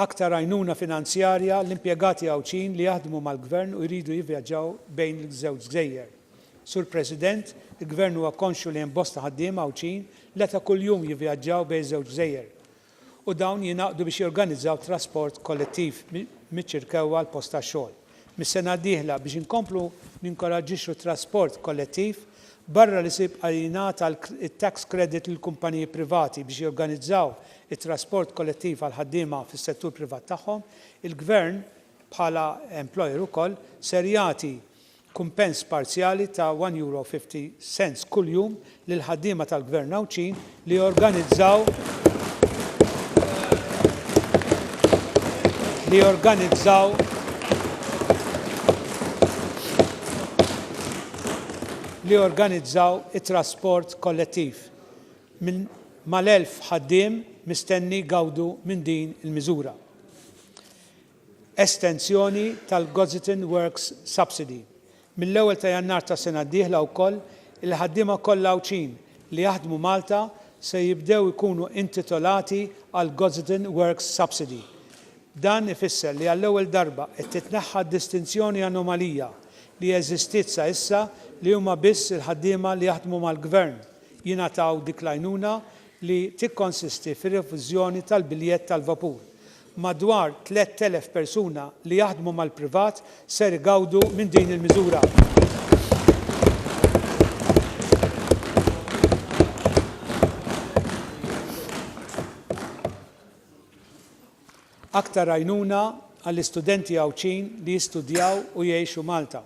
aktar għajnuna finanzjarja l-impjegati Għawdxin li jaħdmu mal-Gvern u jridu jivvjaġġaw bejn iż-żewġ gżejjer. Sur President, il-Gvern huwa konxju li hemm bosta ħaddiema Għawdxin li ta' kuljum jivvjaġġaw bejn iż-żewġ gżejjer. u dawn jingħaqdu biex jorganizzaw trasport kollettiv miċ-Ċirkew għall-post tax-xogħol. Mis-sena d-dieħla, biex inkomplu ninkoraġġixxu t-trasport kollettiv, barra li se jibqa' jingħata t-tax credit lill-kumpaniji privati biex jorganizzaw it-trasport kollettiv għall-ħaddiema fis-settur privat tagħhom, il-Gvern, bħala employer ukoll, ser jagħti kumpens parzjali ta' €1.50 kuljum lill-ħaddiema tal-Gvern Għawdxin li jorganizzaw li jorganizzaw li jorganizzaw it-trasport kollettiv minn mal-1,000 ħaddiem mistenni jgawdu minn din il-miżura. estensjoni tal-Gozitin Works Subsidy. Mill-ewwel ta' Jannar tas-sena d-dieħla wkoll, il-ħaddiema kollha Għawdxin li jaħdmu Malta se jibdew ikunu intitolati għall-Gozitin Works Subsidy. Dan ifisser li għall-ewwel darba qed titneħħa d-distinzjoni anomalija li eżistiet sa issa li huma biss il-ħaddiema li jaħdmu mal-Gvern jingħataw dik l-għajnuna li tikkonsisti fir-reviżjoni tal-biljett tal-vapur Madwar 3,000 persuna li jaħdmu mal-privat ser igawdu minn din il-miżura. Aktar għajnuna għall-istudenti Għawdxin li jistudjaw u jgħixu Malta.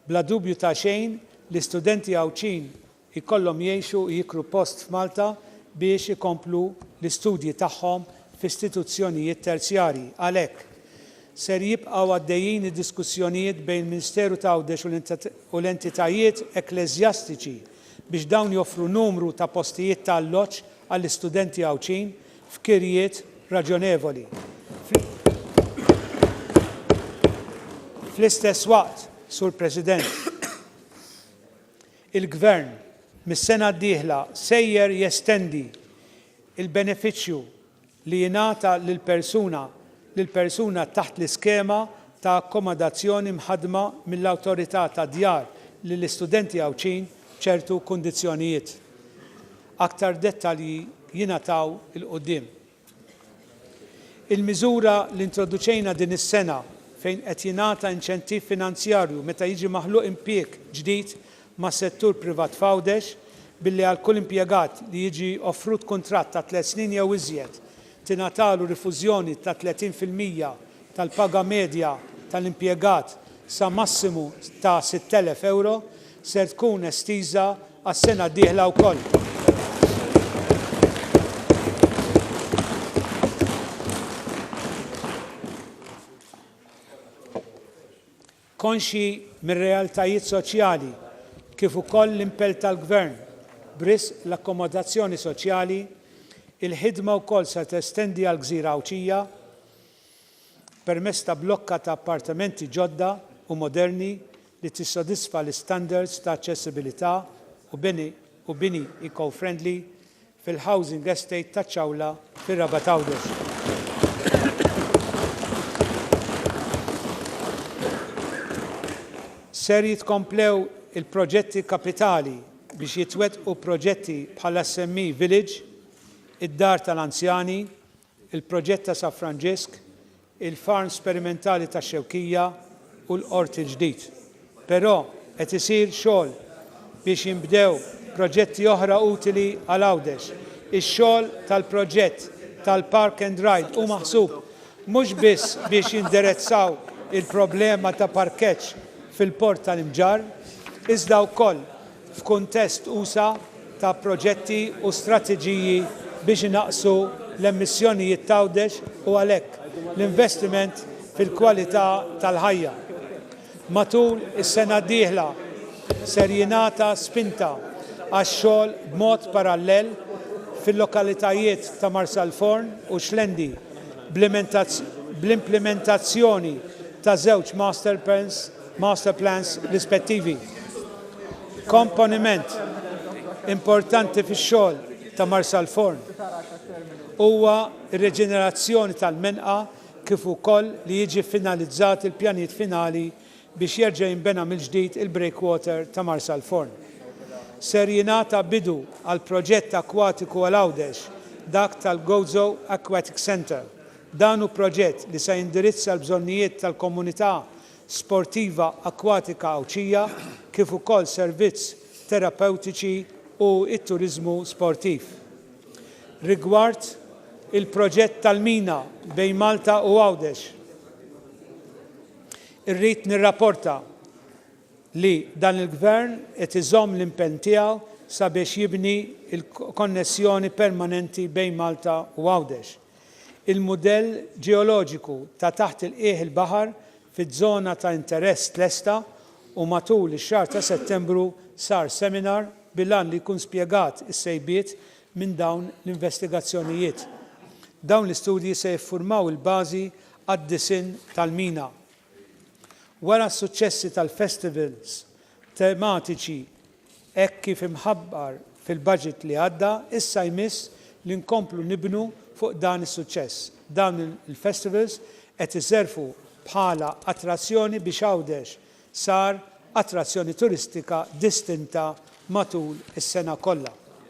Bla dubju ta' xejn, l-istudenti Għawdxin jkollhom jgħixu u jiklu post f'Malta biex ikomplu l-istudji tagħhom f'istituzzjonijiet terzjarji. Għalhekk, ser jibqgħu għaddejjin id-diskussjonijiet bejn il-Ministeru ta' Għawdex u l-entitajiet ekkleżjastiċi biex dawn joffru numru ta' postijiet ta' alloġġ għall-istudenti Għawdxin f'kirjiet raġonevoli. Fl-istess waqt, Sur President, Il-Gvern, mis-sena d-dieħla, sejjer jestendi l-benefiċċju li jingħata lill-persuna lill-persuna taħt l-iskema ta' akkomodazzjoni mħaddma mill-Awtorità tad-Djar lill-istudenti Għawdxin b'ċertu kundizzjonijiet. Aktar dettalji jingħataw 'il quddiem. Il-miżura li introduċejna din is-sena fejn qed jingħata inċentiv finanzjarju meta jiġi maħluq impjieg ġdid mas-settur privat f'Għawdex billi għal kull impjegat li jiġi offrut kuntratt ta' tliet snin jew iżjed tingħatalu rifużjoni ta' 30 fil-mija tal-paga medja tal-impjegat sa massimu ta' 6,000 ewro ser tkun estiża għas-sena d-dieħla wkoll. Konxji mir-realtajiet soċjali kif ukoll l-impell tal-Gvern b'risq l-akkomodazzjoni soċjali, il-ħidma wkoll se testendi għall-Gżira Għawdxija, permezz ta' blokka ta' appartamenti ġodda u moderni li tissodisfa l-istandards ta' aċċessibilità u bini eco-friendly fil-Housing Estate taċ-Ċawla fir-Rabat Għawdex. Ser jitkomplew il-proġetti kapitali biex jitwettqu proġetti bħal-SME Village, id-Dar tal-Anzjani il-proġett ta' Sa Franġisk, il-farm sperimentali tax-Xewkija u l-Qort il-Ġdid. Però qed isir xogħol biex jinbdew proġetti oħra utili għal Għawdex. Ix-xogħol tal-proġett tal-Park and Ride hu maħsub mhux biss biex jinderezzaw il-problema ta' parkeġġ fil-Port tal-Imġarr, iżda wkoll f'kuntest usa' ta' proġetti u strateġiji biex inaqqsu l-emissjonijiet t'Għawdex u għalhekk l-investiment fil-kwalità tal-ħajja. Matul is-sena d-dieħla ser jingħata spinta għax-xogħol b'mod parallel fil-lokalitajiet ta' Marsalforn u Xlendi bl-implimentazzjoni ta' żewġ masterplans Master Plans rispettivi. Komponiment importanti fix-xogħol ta' Marsalforn huwa r-reġenerazzjoni tal-menqa kif ukoll li jiġi ffinalizzat il-pjanijiet finali biex jerġa' jinbena mill-ġdid il-breakwater ta' Marsalforn. Ser jingħata bidu għall-proġett akwatiku għal Għawdex, dak tal-Gozo Aquatic Centre, Dan hu proġett li se jindirizza l-bżonnijiet tal-komunità sportiva akkwatika Għawdxija kif ukoll servizz terapewtiċi u t-turiżmu sportiv. Rigward il-proġett tal-mina bejn Malta u Għawdex, irrid nirraporta li dan il-Gvern qed iżomm l-impenn tiegħu sabiex jibni l-konnessjoni permanenti bejn Malta u Għawdex. il-mudell ġeoloġiku ta' taħt il-qiegħ il-baħar fiż-żona ta' interess tlesta u matul ix-xahar ta' Settembru sar seminar bil-għan li jkun spjegat is-sejbiet minn dawn l-investigazzjonijiet. Dawn l-istudji se jiffurmaw il-bażi għad-disinn tal-mina. Wara s-suċċessi tal-festivals tematiċi Hekk kif imħabbar fil-baġit li għadda, issa jmiss li nkomplu nibnu fuq dan is-suċċess. Dawn il-festivals qed iservu bħala attrazzjoni biex Għawdex sar attrazzjoni turistika distinta matul is-sena kollha.